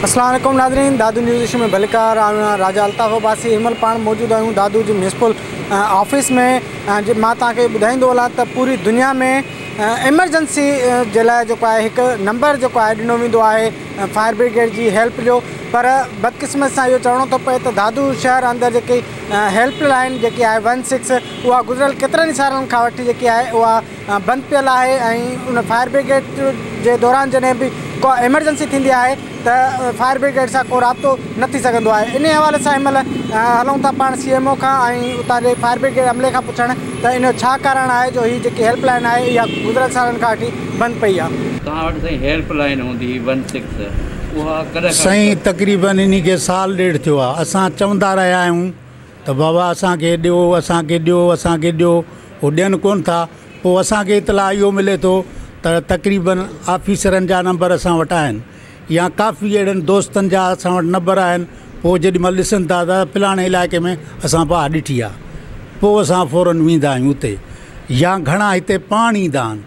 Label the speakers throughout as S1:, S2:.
S1: اسلام عليڪم ناظرين دادو نيوز ايشيا ۾ ڀليڪار آئون آهيان راجا الطاف عباسي هن مهل پاڻ موجود آهيون دادو جي ميونسپل آفيس ۾ مان توهان کي ٻڌائيندو هلان ته پوري دنيا ۾ ايمرجنسي جي لاء جيڪو آهي هڪ نمبر جيڪو آهي ڏنو ويندو آهي فائر بريگيڊ جي هيلپ جو پر بدقسمت سان اهو چوڻو ٿو پئي ته دادو شهر اندر جيڪي هيلپ لائين جيڪي آهي ون سڪس اها گذريل ڪيترن ئي سالن کان وٺي جيڪي آهي اها بند پيل آهي ۽ ان فائر بريگيڊ جي دوران جڏهن به ڪا ايمرجنسي ٿيندي آهي ته فائر بريگيڊ سان ڪو رابطو نه ٿي سگهندو آهي انهي حوالي سان هن مهل هلون ٿا پاڻ سي ايم او کان ۽ اتان جي فائر بريگيڊ عملي کان پڇڻ ته ان جو ڇا ڪارڻ آهي جو هي جيڪي هيلپ لائين آهي اها گذريل سالن کان وٺي بند پئي آهي. توهان وٽ سائين هيلپ
S2: لائين هوندي هئي ون سڪس اها ڪڏهن کان سائين تقريبن
S3: انهي کي سال ڏيڍ ٿيو آهي اسان چوندا رهيا آهيون ته بابا اسان کي ڏيو اسان کي ڏيو اسان کي ڏيو هو ڏين ڪونه ٿا پوء اسان کي اطلاع اهو ملي ٿو ته تقريبن آفيسرن جا نمبر اسان وٽ آهن يا ڪافي اهڙن دوستن جا اسان وٽ نمبر آهن پوء جيڏي مهل ڏسن ٿا ته فلاڻي علائقي ۾ اسان باهه ڏٺي آهي پوء اسان فورن ويندا آهيون اتي يا گهڻا هتي پاڻ ايندا آهن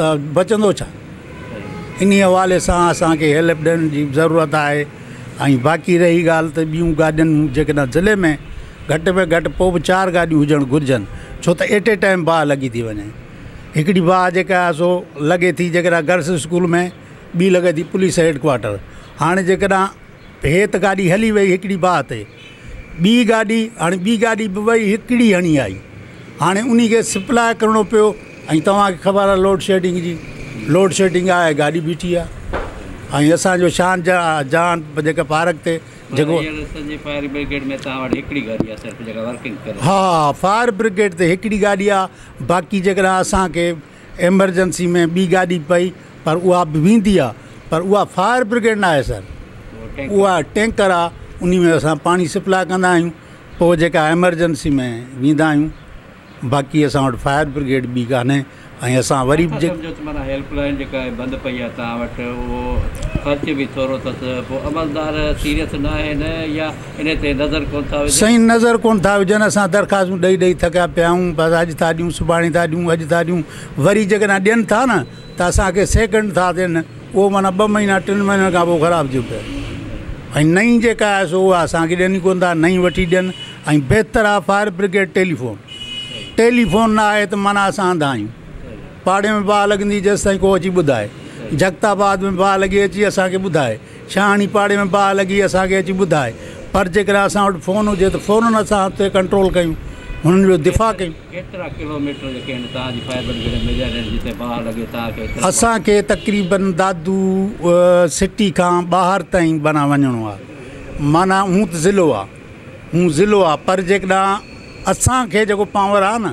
S3: ته بچندو ڇا؟ انهي حوالي سان اسان کي هيلپ ڏين جي به ضرورت آهي ۽ باقي رهي ڳالهه ته ٻيون گاڏين جيڪڏهن ضلعي ۾ گهٽ ۾ گهٽ پوء به چار گاڏيون هجڻ گهرجن ڇو ته ايٽ اي ٽائيم باهه لڳي ٿي وڃي هڪڙي باهه جيڪا آهي سو لڳي ٿي جيڪڏهن گرلس اسڪول ۾ ٻي لڳي ٿي پوليس هيڊ ڪوارٽر هاڻي جيڪڏهن هي ته گاڏي هلي وئي هڪڙي باهه تي ٻي گاڏي هاڻي ٻي گاڏي به وئي هڪڙي هڻي آئي هاڻي انهي کي سپلاء ڪرڻو پيو ۽ توهان کي خبر آهي لوڊ شيڊنگ جي لوڊ شيڊنگ آهي گاڏي بيٺي آهي ۽ اسانجو شان جا جهان جيڪا پارڪ تي جيڪو
S2: ها فائر
S3: برگيڊ تي هڪڙي گاڏي آهي باقي جيڪڏهن اسانکي ايمرجنسي ۾ ٻي گاڏي پئي پر اها به ويندي آ پر اها فائر برگيڊ نه آهي سر اها ٽينڪر آ انهي ۾ اسان پاڻي سپلاء ڪندا آهيون پوء جيڪا ايمرجنسي ۾ ويندا آهيون باقي اسان وٽ فائر برگيڊ ٻي ڪانهي ۽ اسان وري به هيلپ لائين جيڪا آهي
S2: بند پئي آ توهان وٽ اهو خرچ به ٿورو اٿس پوء عملدار سيريس نه آهن يا انهي تي نظر ڪونه ٿا وجهن.
S3: سائين نظر ڪونه ٿا وجهن اسان درخواستون ڏئي ڏئي ٿڪيا پيا آهيون بس اڄ ٿا ڏيون سڀاڻي ٿا ڏيون اڄ ٿا ڏيون وري جيڪڏهن ڏين ٿا نه ته اسان کي سيڪنڊ ٿا ڏين اهو معنيٰ ٻه مهينا ٽن مهينن کان پوء خراب ٿيو پيو آهي ۽ نئين جيڪا آهي سو اها اسان کي ڏين ئي ڪونه ٿا نئين وٺي ڏين ۽ بهتر آهي فائر برگيڊ ٽيليفون ٽيليفون نه آهي ته معنيٰ اسان انڌا آهيون پاڙي ۾ باهه لڳندي جيسيتائين ڪو اچي ٻڌائي جڳتاباد ۾ باهه لڳي اچي اسان کي ٻڌائي ڇا اڻي پاڙي ۾ باهه لڳي اسان کي اچي ٻڌاء پر جيڪڏهن اسان وٽ فون هجي ته فورن اسان اتي ڪنٽرول ڪيون هنن جو دفاع ڪيون. ڪيترا ڪلو ميٽر
S2: جيڪي آهن توهان جي فائبر گرڊ ۾ وجهيل آهن جتي باهه لڳي توهان کي اتي. اسان کي تقريبن
S3: دادو سٽي کان ٻاهر تائين بنا وڃڻو آهي معنيٰ هون ته ضلعو آهي هون ضلعو آهي پر جيڪڏهن اسان کي جيڪو پاور آهي نه.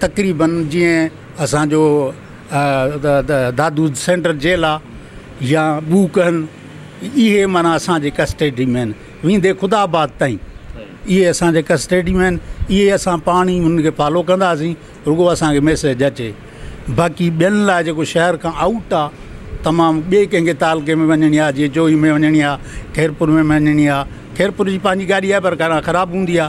S3: تقريبن جيئن اسانجو دادو سينٽر جيل آ يا ٻوڪن اهي معنيٰ اسانجي ڪسٽيڊي ۾ آهن ويندي خدا آباد تائين اهي اسانجي ڪسٽيڊي ۾ آهن اهي اسان پاڻ ئي انهن کي فالو ڪنداسين رڳو اسانکي ميسج اچي باقي ٻين لاء جيڪو شهر کان آئوٽ آ تمام ٻي ڪنهنکي تعلقي ۾ وڃڻي آ جيئن چوئي ۾ وڃڻي آ خيرپور ۾ وڃڻي آ خيرپور جي پنهنجي گاڏي آ پر خراب هوندي آ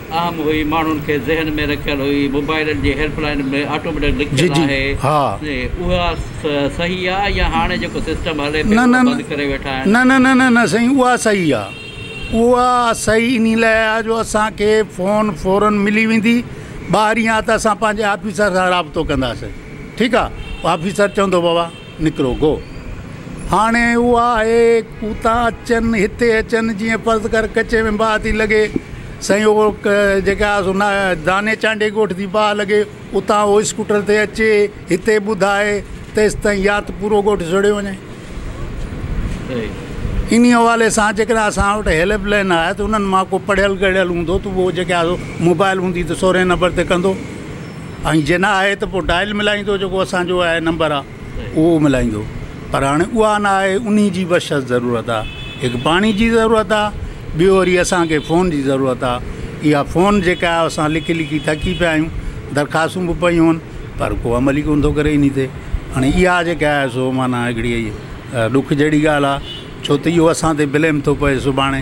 S2: اهم هئي ماڻهن کي ذهن ۾ رکيل هئي موبائلن جي هيلپ لائين به آٽوميٽڪ لکيل آهي اها صحيح آ يا هاڻي جيڪو سسٽم هلي پيو اهو بند ڪري ويٺا آهن نه نه نه نه سائين اها صحيح
S3: آ اها صحيح انهي لاء آ جو اسانکي فون فورن ملي ويندي ٻاهرين آ ته اسان پنهنجي آفيسر سان رابطو ڪنداسين ٺيڪ آ آفيسر چوندو بابا نڪرو گو. هاڻي اها آهي، ڪوتا اچن، هتي اچن، جيئن فرض ڪر ڪچي ۾ باهه ٿي لڳي، سائين اهو جيڪي آهي سو نا داني چانڊي ڳوٺ ٿي باهه لڳي، اتان اهو اسڪوٽر تي اچي، هتي ٻڌائي، تيستائين يا ته پورو ڳوٺ سڙيو وڃي. انهيء حوالي سان جيڪڏهن اسان وٽ هيلپ لائين آهي ته انهن مان ڪو پڙهيل ڳڙهيل هوندو ته اهو جيڪي آهي سو موبائل هوندي ته سورهين نمبر تي ڪندو. ۽ جي نه آهي ته پوء ڊائل ملائيندو جيڪو اسان جو آهي نمبر آ اهو ملائيندو پر هاڻي اها نه آهي انهي جي به شرط ضرورت آ هڪ پاڻي جي ضرورت آ ٻيو وري اسان کي فون جي ضرورت آ اها فون جيڪا آ اسان لکي لکي ٿڪي پيا آهيون درخواستون به پيون آهن پر ڪو عمل ئي ڪون ٿو ڪري انهي تي هاڻي اها جيڪا آهي سو معنيٰ هڪڙي ڏک جهڙي ڳالهه آ ڇو ته اهو اسان تي بليم ٿو پئي سڀاڻي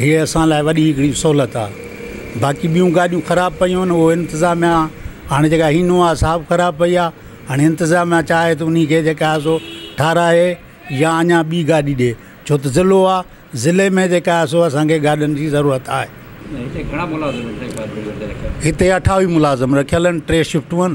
S3: هيء اسان لاء وڏي هڪڙي سهولت آ. باقي ٻيون گاڏيون خراب پيون آهن اهو انتظاميا هاڻي جيڪا هينووا آ سا به خراب پئي آ. هاڻي انتظاميا چاهي ته انهي کي جيڪا آ سو ٺاراهي يا اڃان ٻي گاڏي ڏي ڇو ته ضلعو آ ضلعي ۾ جيڪا آ سو اسان کي گاڏين جي ضرورت آهي. هتي اٺاويهه ملازم رکيل آهن ٽي شفٽون آهن.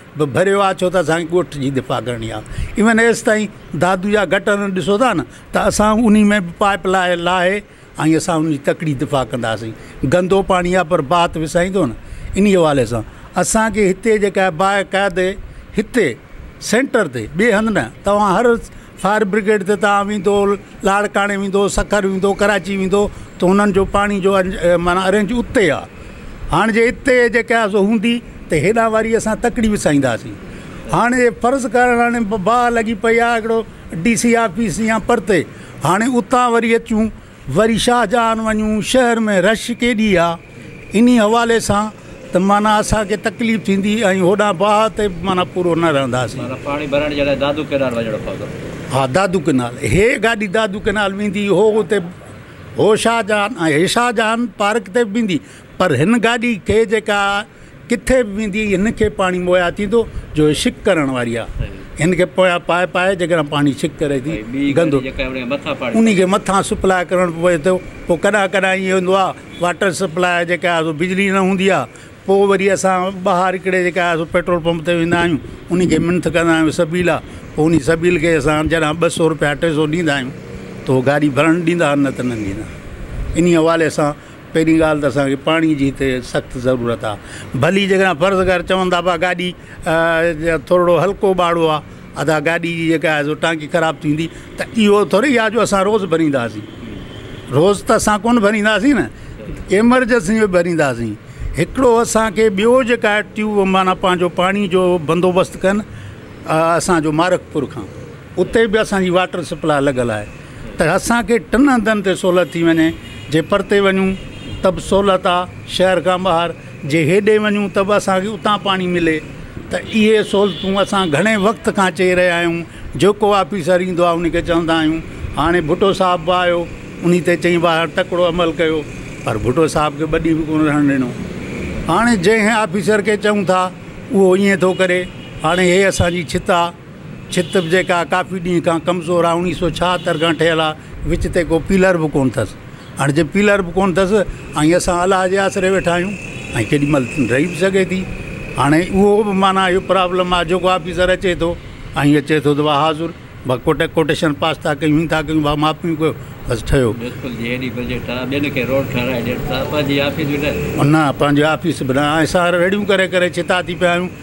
S3: به ڀريو آ ڇو ته اسان کي ڳوٺ جي دفاع ڪرڻي آ ايون ايستائين دادو جا گٽر ڏسو ٿا نه ته اسان انهي ۾ به پائپ لاء لاهي ۽ اسان انهي تڪڙي دفاع ڪنداسين گندو پاڻي آ پر باهه ته وسائيندو نه انهي حوالي سان اسان کي هتي جيڪا باقاعدي هتي سينٽر تي ٻي هنڌ نه توهان هر فائر برگيڊ تي تان ويندو لاڙڪاڻي ويندو سکر ويندو ڪراچي ويندو ته انهن جو پاڻي جو معنيٰ ارينج اتي آ هاڻ جي اتي جيڪي آ سو هوندي ته هيڏانهن واري اسان تڪڙي وسائينداسين هاڻ جي فرض ڪر هاڻي باهه لڳي پئي آ هڪڙو ڊي سي آفيس يا پرتي هاڻي اتان وري اچون وري شاهجهان وڃون شهر ۾ رش ڪيڏي آ انهي حوالي سان ته معنيٰ اسان کي تڪليف ٿيندي ۽ هوڏانهن باهه تي به معنيٰ پورو نه رهنداسين. پاڻي ڀرڻ جي لاء
S2: دادو ڪئنال وڃڻو
S3: پوندو. ها دادو ڪئنال هي گاڏي
S2: دادو
S3: ڪئنال ويندي هو اتي هو شاهجهان ۽ هي شاهجهان پارڪ تي به ويندي. پر هن گاڏي کي جيڪا ڪٿي به ويندي هن کي پاڻي مهيا ٿيندو جو هي شڪ ڪرڻ واري آهي هن کي پويان پائپ آهي جيڪڏهن پاڻي شڪ ڪري ٿي گندو ان کي مٿان سپلاء ڪرڻ پوي ٿو پوء ڪڏهن ڪڏهن ائين هوندو آهي واٽر سپلاء جيڪا آهي سو بجلي نه هوندي آهي پوء وري اسان ٻاهر هڪڙي جيڪا آهي سو پيٽرول پمپ تي ويندا آهيون ان کي منٿ ڪندا آهيون سبيل آهي پوء ان سبيل کي اسان جڏهن ٻه سو رپيا ٽي سو ڏيندا آهيون تو گاڏي ڀرڻ ڏيندا آهن نه ته نه ڏيندا انهي حوالي سان پهرين ڳالهه ته اسان کي پاڻي جي هتي سخت ضرورت آ ڀلي جيڪڏهن فرض ڪر چون ٿا پيا گاڏي ٿورڙو هلڪو ٻاڙو آ ادا گاڏي جي جيڪا آهي سو ٽانڪي خراب ٿيندي ته اهو ٿورڙي آ جو اسان روز ڀرينداسين روز ته اسان ڪون ڀرينداسين نه ايمرجنسي ۾ ڀرينداسين هڪڙو اسانکي ٻيو جيڪا آهي ٽيوب معنيٰ پنهنجو پاڻي جو بندوبست ڪن اسانجو مارکپور کان اتي به اسانجي واٽر سپلاء لڳل آهي ته اسان کي ٽن هنڌن تي سهولت ٿي وڃي، جي پرتي وڃون ته به سهولت آ شهر کان ٻاهر، جي هيڏي وڃون ته به اسان کي اتان پاڻي ملي ته اهي سهولتون اسان گهڻي وقت کان چئي رهيا آهيون، جيڪو آفيسر ايندو آ ان کي چوندا آهيون، هاڻي ڀٽو صاحب به آيو انهي تي چئي واهر تڪڙو عمل ڪيو پر ڀٽو صاحب کي ٻه ڏينهن به ڪونه رهڻ ڏنو، هاڻي جنهن آفيسر کي چئون ٿا اهو ائين ٿو ڪري، هاڻي هي اسان جي ڇت آ. ڇت به جيڪا ڪافي ڏينهن کان ڪمزور آ اڻيهه سو ڇاهتر کان ٺهيل آ وچ تي ڪو پيلر به ڪون ٿس هاڻي جي پيلر به ڪون ٿس ۽ اسان الله جي آسري ويٺا آهيون ۽ ڪيڏي مهل رهي به سگهي ٿي هاڻي اهو به معنيٰ اهو پرابلم آ جيڪو آفيسر اچي ٿو ۽ اچي ٿو ته واهه حاضر ڀا ڪوٽ ڪوٽيشن پاس ٿا ڪيون هي ٿا ڪيون ڀا ماپيون ڪيو بس ٺهيو. ميونسپل جي ايڏي بجيٽ آ ٻين کي روڊ ٺهرائي ڏين ٿا پنهنجي آفيس به نه. نه پنهنجي آفيس به نه اسان رڙيون ڪري ڪري ڇتا ٿي پيا آهيون.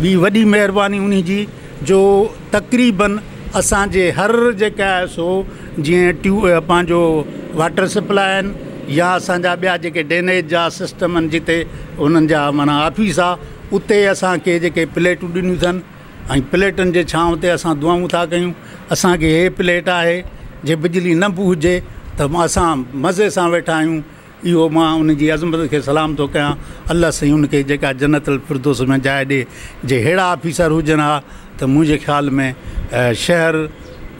S3: ٻي وڏي مهرباني انهي جي جو تقريباً اسان جي هر جيڪا آهي سو جيئن ٽيو پنهنجو واٽر سپلاء آهن يا اسان جا ٻيا جيڪي ڊينيج جا سسٽم آهن جتي انهن جا معنيٰ آفيس آهي اتي اسان کي جيڪي پليٽون ڏنيون اٿن ۽ پليٽن جي ڇانو تي اسان دعائون ٿا ڪيون اسان کي هي پليٽ آهي جي بجلي نه به هجي ته اسان مزي سان ويٺا آهيون اهو مان ان جي عظمت کي سلام ٿو ڪيان الله سائين ان کي جيڪا جنت الفردوس ۾ جاء ڏي جي اهڙا آفيسر هجن ها ته منهنجي خيال ۾ شهر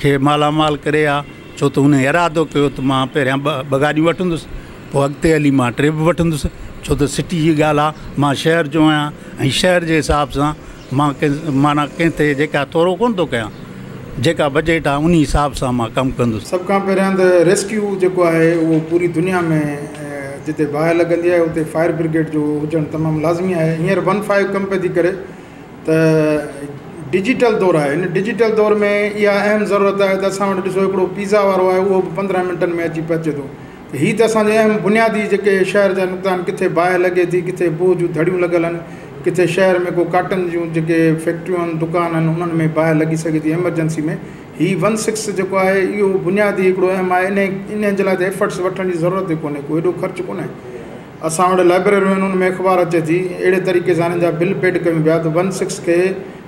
S3: کي مالا مال ڪري ها ڇو ته ان ارادو ڪيو ته مان پهريان ٻه ٻه گاڏيون وٺندس پوء اڳتي هلي مان ٽي به وٺندس ڇو ته سٽي جي ڳالهه آ مان شهر جو آهيان ۽ شهر جي حساب سان مان ڪنهن معنيٰ ڪنهن تي جيڪا تورو ڪونه ٿو ڪيان جيڪا بجيٽ آهي انهي حساب سان مان ڪم ڪندس. سڀ کان پهريان ته
S4: ريسڪيو جيڪو آهي اهو پوري دنيا ۾ جتي باهه لڳندي آهي اتي فائر برگيڊ جو هجڻ تمام لازمي آهي هينئر ون فائيو ڪم پئي ٿي ڪري ته ڊجيٽل دور آهي هن ڊجيٽل دور ۾ اها اهم ضرورت آهي ته اسان وٽ ڏسو هڪڙو پيزا وارو آهي اهو به پندرهن منٽن ۾ اچي پهچي ٿو هي ته اسان جي اهم بنيادي جيڪي شهر جا نقطا آهن ڪٿي باهه لڳي ٿي ڪٿي بوهه جون ڌڙيون لڳل آهن ڪٿي شهر ۾ ڪو ڪاٽن جون جيڪي فيڪٽريون آهن دڪان آهن انهن ۾ باهه لڳي سگهي ٿي ايمرجنسي ۾ هي ون سڪس جيڪو آهي اهو بنيادي هڪڙو اهم آهي انهي انهن جي لاء ته ايفرٽس وٺڻ جي ضرورت ئي ڪونهي ڪو ايڏو خرچ ڪونهي اسان وٽ لائبرريون آهن ان ۾ اخبار اچي ٿي اهڙي طريقي سان انهن جا بل پيڊ ڪيون پيا ته ون سڪس کي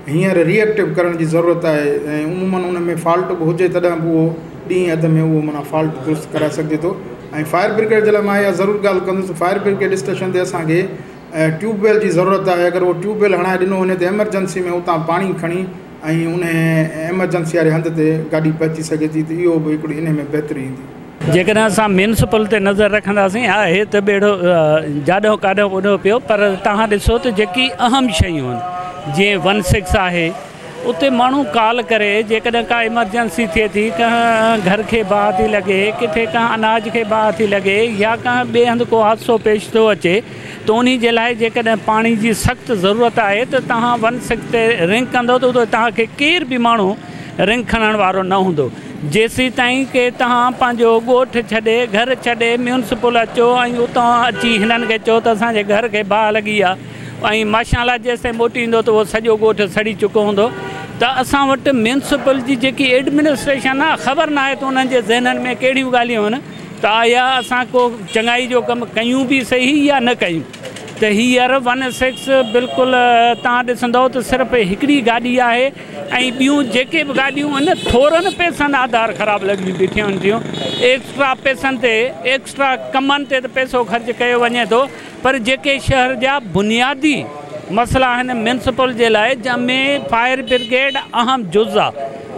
S4: هينئر ري ايڪٽو ڪرڻ جي ضرورت آهي ۽ عمومن ان ۾ فالٽ به هجي تڏهن به اهو ڏينهن اڌ ۾ اهو معنيٰ فالٽ درست ڪرائي سگهجي ٿو ۽ فائر برگيڊ جي لاء ماهي اها ضرور ڳالهه ڪندس ته فائر برگيڊ اسٽيشن تي اسانکي ٽيوب ويل جي ضرورت آهي اگر اهو ٽيوب ويل هڻائي ڏنو وڃي ته ايمرجنسي ۾ اتان پاڻي کڻي ۽ ان ايمرجنسي واري هنڌ تي گاڏي پهچي سگهي ٿي ته اهو به هڪڙي ان ۾ بهتري ايندي جيڪڏهن اسان ميونسپل
S5: تي نظر رکنداسين آهي ته ٻيڙو جاڏو ڪاڏو ٻڏو پيو پر توهان ڏسو ته جيڪي اهم شيون آهن جيئن ون سڪس آهي اتي ماڻهو ڪال ڪري جيڪڏهن ڪا ايمرجنسي ٿئي ٿي ڪنهن گهر کي باهه ٿي لڳي ڪٿي ڪنهن اناج کي باهه ٿي لڳي يا ڪنهن ٻئي هنڌ ڪو حادثو پيش ٿو اچي ته انهي جي لاء جيڪڏهن پاڻي جي سخت ضرورت آهي ته توهان ون سڪس تي رنگ ڪندو ته اتي توهان کي ڪير به ماڻهو رنگ کڻڻ وارو نه هوندو جيسيتائين ڪي توهان پنهنجو ڳوٺ ڇڏي، گهر ڇڏي، ميونسپل اچو ۽ اتان اچي هنن کي چئو ته اسان جي گهر کي باهه لڳي آ ۽ ماشاءالله جيسيتائين موٽي ايندو ته اهو سڄو ڳوٺ سڙي چڪو هوندو ته اسان وٽ ميونسپل جي جيڪي ايڊمنسٽريشن آ خبر ناهي ته انهن جي ذهنن ۾ ڪهڙيون ڳالهيون هن ته آيا اسان ڪو چڱائي جو ڪم ڪيون به سهي يا نه ڪيون ته هيئر ون سڪس بلڪل توهان ڏسندئو ته صرف هڪڙي گاڏي آهي ۽ ٻيون جيڪي به گاڏيون ان ٿورن پئسن آڌار خراب لڳيون بيٺيون ٿيون ايڪسٽرا پئسن تي ايڪسٽرا ڪمن تي ته پئسو خرچ ڪيو وڃي ٿو پر جيڪي شهر جا بنيادي مسئلا آهن ميونسپل جي لاء جنهن ۾ فائر برگيڊ اهم جز آ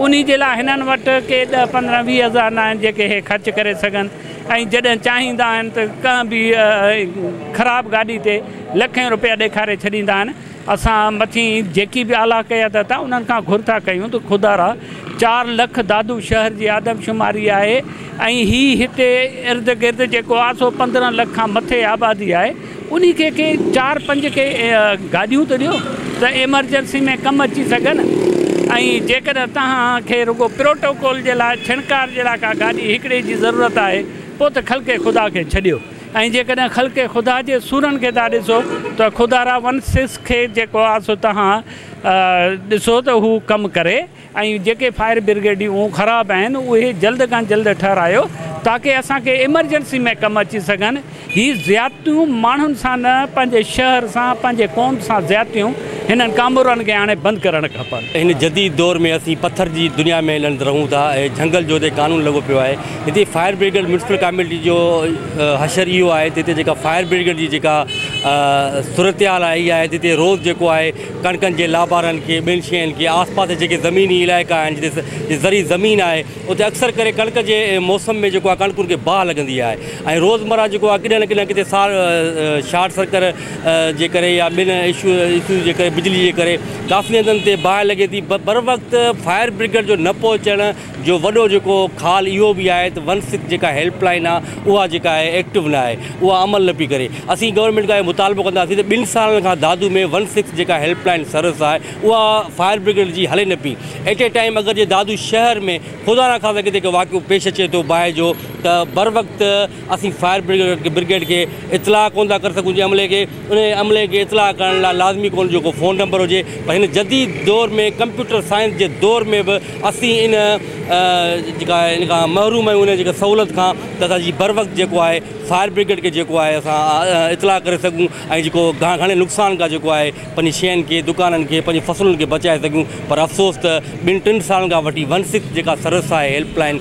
S5: انهي جي لاء هنن وٽ ڪي ڏهه پندرهن ويهه هزار ناهن جيڪي هي خرچ ڪري سگهن ۽ جڏهن چاهيندا آهن ته ڪنهن به خراب گاڏي تي لکين روپيا ڏيکاري ڇڏيندا آهن اسان مٿين جيڪي به اعليٰ قيادت آهي انهن کان گهر ٿا ڪيون ته خدارا چار لک دادو شهر جي آدمشماري آهي ۽ هي هتي ارد گرد جيڪو آسو پندرهن لک کان مٿي آبادي آهي انهي کي ڪي چار پنج ڪي گاڏيون ته ڏيو ته ايمرجنسي ۾ ڪم اچي سگهن ۽ جيڪڏهن توهان کي رڳو پروٽوڪول جي لاء ڇڻڪار جي لاء ڪا گاڏي هڪڙي جي ضرورت آهي پوء ته خلق خدا کي ڇڏيو. ۽ جيڪڏهن خلق خدا جي سورن کي ٿا ڏسو ته خدا را ونسز کي جيڪو آ سو تهان ڏسو ته هو ڪم ڪري ۽ جيڪي فائر برگيڊيون خراب آهن اهي جلد کان جلد ٺهرايو تاڪه اسان کي ايمرجنسي ۾ ڪم اچي سگهن هي زيادتيون ماڻهن سان نه پنهنجي شهر سان پنهنجي قوم سان زيادتيون هنن ڪامورن کي هاڻي بند ڪرڻ کپن. هن جديد دور ۾
S6: اسين پٿر جي دنيا ۾ هلند رهون ٿا ۽ جهنگل جوڌي قانون لڳو پيو آهي هتي فائر بريگيڊ ميونسپل ڪاميٽي جو حشر اهو آهي ته هتي جيڪا فائر بريگيڊ جي جيڪا صورتحال آهي اها آهي ته هتي روز جيڪو آهي ڪڻڪن جي لابارن کي ٻين شين کي آس پاس جيڪي زميني علائقا آهن جتي زرعي زمين آهي اتي اڪثر ڪري ڪڻڪ جي موسم ۾ جيڪو آهي ڪڻڪن کي باهه لڳندي آهي ۽ روزمرا جيڪو آهي ڪڏهن نه ڪڏهن ڪٿي سار شارٽ سرڪر جي ڪري يا ٻين اشو اشو جي ڪري بجلي جي ڪري ڪافي هنڌن تي باهه لڳي ٿي بروقت فائر بريگيڊ جو نه پهچڻ جو وڏو جيڪو خال اهو به آهي ته ون سڪس جيڪا هيلپ لائين آهي اها جيڪا آهي ايڪٽو نه آهي اها عمل نه پئي ڪري اسين گورنمينٽ کان اهو مطالبو ڪنداسين ته ٻن سالن کان دادو ۾ ون سڪس جيڪا هيلپ لائين سروس آهي اها فائر برگيڊ جي هلي نه پئي ايٽ اي ٽائيم اگر جي دادو شهر ۾ خدا نه خاصا ڪٿي ڪو واقعو پيش اچي ٿو باهه جو ته بروقت اسين فائر برگيڊ کي اطلاع ڪونه ٿا ڪري سگهون جنهن عملي کي انهيء عملي کي اطلاع ڪرڻ لاء لازمي ڪونهي جو ڪو فون نمبر هجي پر هن جديد دور ۾ ڪمپيوٽر سائنس جي دور ۾ به اسين ان جيڪا ان کان محروم آهيون ان جيڪا سهولت کان ته اسان جي بروقت جيڪو آهي فائر برگيڊ کي جيڪو آهي اسان اطلاع ڪري سگهون ۽ جيڪو گهڻي نقصان کان جيڪو آهي پنهنجي شين کي دڪانن کي پنهنجي فصلن کي بچائي سگهون پر افسوس ته ٻن ٽن سالن کان وٺي ون سڪس جيڪا سروس آهي هيلپ لائين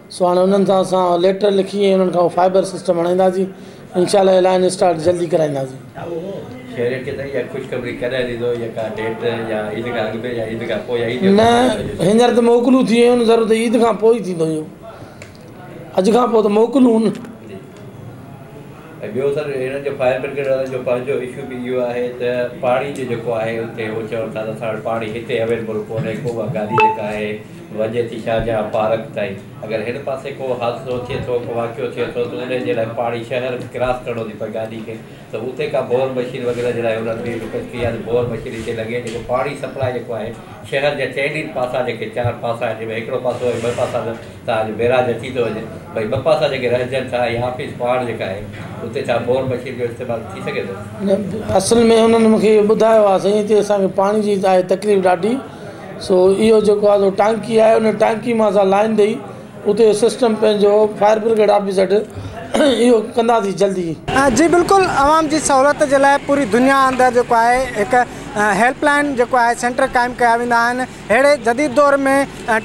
S7: سو هاڻي انهن سان اسان ليٽر لکي ۽ انهن کان اهو فائبر سسٽم هڻائينداسين انشاء الله لائن اسٽارٽ جلدي
S2: ڪرائينداسين. ۽ ٻيو سر هنن جو فائر برگيڊ وارن جو پنهنجو اشو به اهو آهي ته پاڻي جو جيڪو آهي اتي هو چون ٿا ته اسان وٽ پاڻي هتي اويلبل ڪونهي ڪو اها گاڏي جيڪا آهي وڃي ٿي شاهجهان پارڪ تائين اگر هن پاسي ڪو حادثو ٿئي ٿو ڪو واقعو ٿئي ٿو ته ان جي لاء پاڻي شهر ڪراس ڪرڻو ٿي پئي گاڏي کي ته اتي ڪا بور مشين وغيره جي لاء هن ڪئي ڪئي آهي ته بور مشين هتي لڳي جيڪو پاڻي سپلاء جيڪو آهي شهر جا چئن ئي پاسا جيڪي چار پاسا آهن جن ۾ هڪڙو پاسو ۽ ٻه پاسا نه ته اڄ بئراج اچي ٿو وڃي ڀئي ٻه پاسا جيڪي رهجن ڇا هي آفيس پاڙ جيڪا آهي اتي ڇا بور مشين جو استعمال ٿي سگهي ٿو؟ اصل ۾ انهن مون
S7: کي اهو ٻڌايو آهي سائين هتي اسان کي پاڻي جي آهي تڪليف ڏاڍي سو اهو جيڪو آهي سو ٽانڪي آهي ان ٽانڪي مان اسان لائين ڏئي اتي سسٽم پنهنجو فائر برگيڊ آفيس وٽ اهو ڪنداسين جلدي. جي بلڪل
S1: عوام جي سهولت جي لاء پوري دنيا اندر جيڪو آهي هڪ هيلپ لائين جيڪو آهي سينٽر قائم ڪيا ويندا آهن ههڙي جديد دور ۾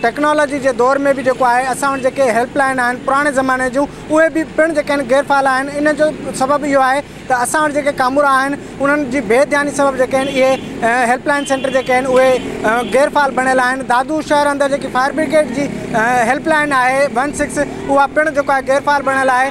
S1: ٽيڪنالاجي جي دور ۾ به جيڪو آهي اسان وٽ جيڪي هيلپ لائين آهن پراڻي زماني جون اهي به پڻ جيڪي آهن غير فعال آهن ان جو سبب اهو آهي ته اسان وٽ جيڪي ڪامورا آهن انهن جي بي ڌياني سبب جيڪي آهن اهي هيلپ لائين سينٽر جيڪي آهن اهي غير فعال بڻيل آهن دادو شهر اندر جيڪي فائر بريگيڊ جي هيلپ لائين آهي ون سڪس اها پڻ جيڪو آهي غير فعال بڻيل آهي